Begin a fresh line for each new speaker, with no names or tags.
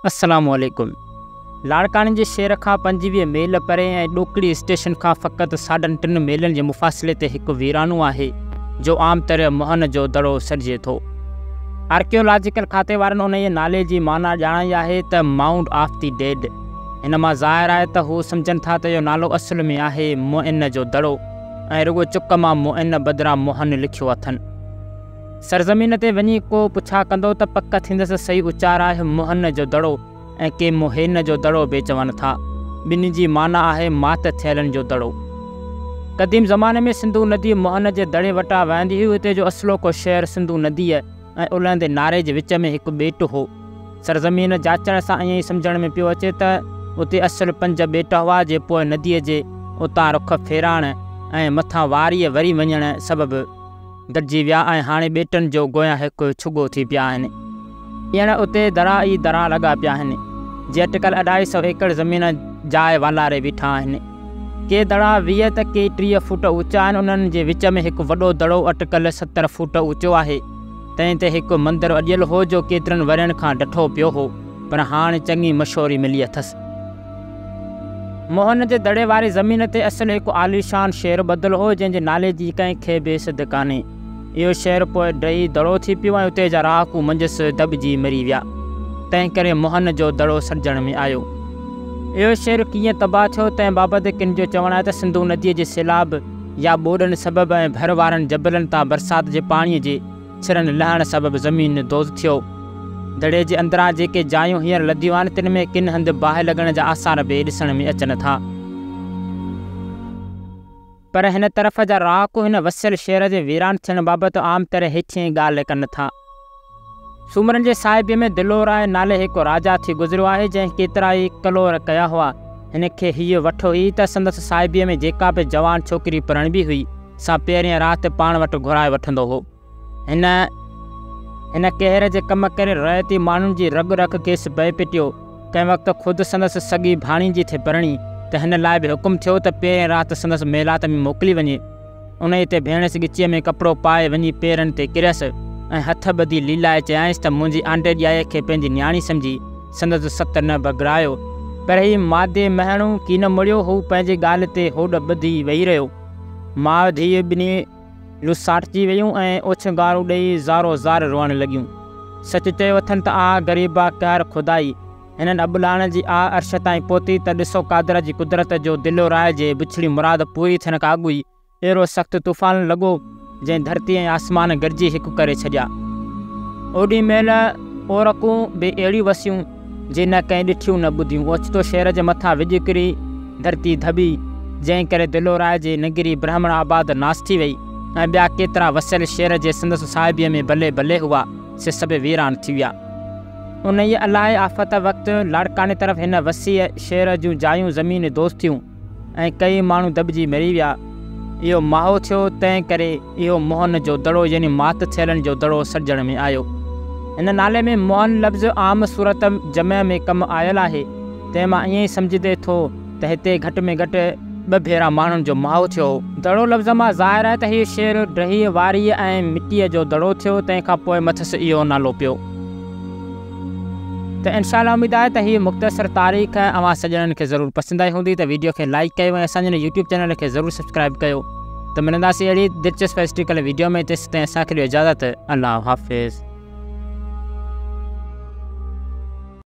السلام عليڪم. لاڙڪاڻي جي شهر کان پنجويهه ميل پري ۽ ڏوڪڙي اسٽيشن کان فقط ساڍن ٽن ميلن جي مفاصلي تي هڪ ويرانو آهي، جو عام طرح مهن جو دڙو سڏجي ٿو. آرڪيالاجيڪل کاتي وارن انهيء نالي جي معنيٰ ڄاڻائي آهي ته مائونڊ آف دي ڊيڊ. هن مان ظاهر آهي ته هو سمجهن ٿا ته اهو نالو اصل ۾ آهي مهن جو دڙو ۽ رڳو چڪ مان مهن بدران مهن لکيو اٿن. سرزمين تي وڃي ڪو پڇا ڪندو ته پڪ ٿيندس سهي اچار آهي موهن جو دڙو ۽ ڪي موهين جو دڙو به چون ٿا. ٻنهي جي معنيٰ آهي مات ٿيلن جو دڙو. قديم زماني ۾ سنڌو ندي موهن جي دڙي وٽان وهندي هئي اتي جو اصلوڪو شهر سنڌو نديء ۽ الهندي ناري جي وچ ۾ هڪ ٻيٽ هو. سرزمين جاچڻ سان ائين سمجهڻ ۾ پيو اچي ته اتي اصل پنج ٻيٽ هئا جي پوء نديء جي اتان رخ ڦيرائڻ ۽ مٿان واريء وري وڃڻ سبب گڏجي ويا ۽ هاڻي ٻيٽن جو گويا هڪ ڇڳو ٿي پيا آهن. ڄڻ اتي درا ئي درا لڳا پيا آهن، جي اٽڪل اڍائي سؤ ايڪڙ زمين جاء والاري بيٺا آهن. ڪي دڙا ويهه ته ڪي ٽيهه فوٽ اوچا آهن، انهن جي وچ ۾ هڪ وڏو دڙو اٽڪل ستر فوٽ اوچو آهي. تنهن تي هڪ مندر اڏيل هو، جو ڪيترن ورهين کان ڊٺو پيو هو، پر هاڻ چڱي مشهوري ملي اٿس. موهن جي دڙي واري زمين تي اصل هڪ عاليشان شهر ٻڌل هو، جنهن جي نالي جي ڪنهن کي به سڌ ڪانهي. اهو شهر پوء ڊهي دڙو ٿي پيو ۽ اتي جا رهاڪو منجهس دٻجي مري ويا. تنهن ڪري موهن جو دڙو سڏجڻ ۾ آيو. اهو شهر ڪيئن تباهه ٿيو، تنهن بابت ڪن جو چوڻ آهي ته سنڌو نديء جي سيلاب يا ٻوڏن سبب ۽ ڀر وارن جبلن تان برسات جي پاڻيء جي سرن لهڻ سبب زمين دوز ٿيو. دڙي جي اندران جيڪي جايون هينئر لڌيون آهن تن ۾ ڪن هنڌ باهه لڳڻ جا آثار به ڏسڻ ۾ اچن ٿا. پر هن طرف جا رهاڪو هن وسيل شهر جي ويران ٿيڻ بابت عام طرح هيٺينء ڳالهه ڪن ٿا. سومرن جي صاحبيء ۾ دلورائع نالي هڪ راجا ٿي گذريو آهي جنهن ڪيترائي ڪلور ڪيا هئا. هن کي هيء وٺ هئي ته سندس صاحبيء ۾ جيڪا به جوان ڇوڪري پرڻبي هئي. سان پهرين رات پاڻ وٽ گهرائي وٺندو هو. هن هن قهر جي ڪم ڪري رعيتي ماڻهن جي رڳ رک کيس پئي پٽيو. ڪنهن وقت خود سندس سڳي ڀاڻيجي ٿي پرڻي ته هن لاء به حڪم ٿيو ته پهرين رات سندس ميلات ۾ موڪلي وڃي. انهيء تي ڀيڻس ڳچيء ۾ ڪپڙو پائي وڃي پيرن تي ڪريس ۽ هٿ ٻڌي ليلائي چيائينس ته منهنجي آنڊي ڄائيء کي پنهنجي نياڻي سمجهي سندس ست نه بگڙايو. پر هي مادي مهڻو ڪين مڙيو. هو پنهنجي ڳالهه تي هوڏ ٻڌي ويهي رهيو. ماء ڌيء ٻنهي لساٽ ٿي ويون ۽ اوڇ گارون ڏيئي زارو زار روئڻ لڳيون. سچ چيو اٿن ته آء غريب آ قهر خدائي. هنن ابڙاڻن جي آء عرش تائين پهتي ته ڏسو قادر جي قدرت جو دلو رائج ۽ بڇڙي مراد پوري ٿيڻ کان اڳ ئي اهڙو سخت طوفان لڳو، جنهن ڌرتي ۽ آسمان گڏجي هڪ ڪري ڇڏيا. اوڏي مهل اورڪون به اهڙيون وسيون، جي نه ڪنهن ڏٺيون نه ٻڌيون. اوچتو شهر جي مٿان وڄ ڪري ڌرتي ڌٻي، جنهن ڪري دلورائي جي نگري برهمڻ آباد ناس ٿي وئي ۽ ٻيا ڪيترا وسيل شهر جي سندس صاحبيء ۾ بلي بلي هئا، سي سڀ ويران ٿي ويا. انهيء الاهي آفت وقت لاڙڪاڻي طرف هن وسيع شهر جون جايون زمين دوز ٿيون. ۽ ڪيئي ماڻهو دٻجي مري ويا. اهو ماهو ٿيو، تنهن ڪري اهو موهن جو دڙو يعني مات ٿيلن جو دڙو سڏجڻ ۾ آيو. هن نالي ۾ موهن لفظ عام صورت جمع ۾ ڪم آيل آهي، تنهن مان ائين ئي سمجهجي ٿو ته هتي گهٽ ۾ گهٽ ٻه ڀيرا ماڻهن جو ماهو ٿيو هو. دڙو لفظ مان ظاهر آهي ته هيء شهر ڊهي واريء ۽ مٽيء جو دڙو ٿيو، تنهن کان پوء مٿس اهو نالو پيو. ته انشاء الله اميد آهي ته هي مختصر تاريخ اوهان سڄڻن کي ضرور پسند آئي هوندي ته ويڊيو کي لائيڪ ڪيو ۽ اسان جي هن يوٽيوب چينل کي ضرور سبسڪرائيب ڪيو ته ملنداسين اهڙي دلچسپ هسٽريڪل ويڊيو ۾ تيسين تائين اسان کي ڏيو اجازت الله حافظ.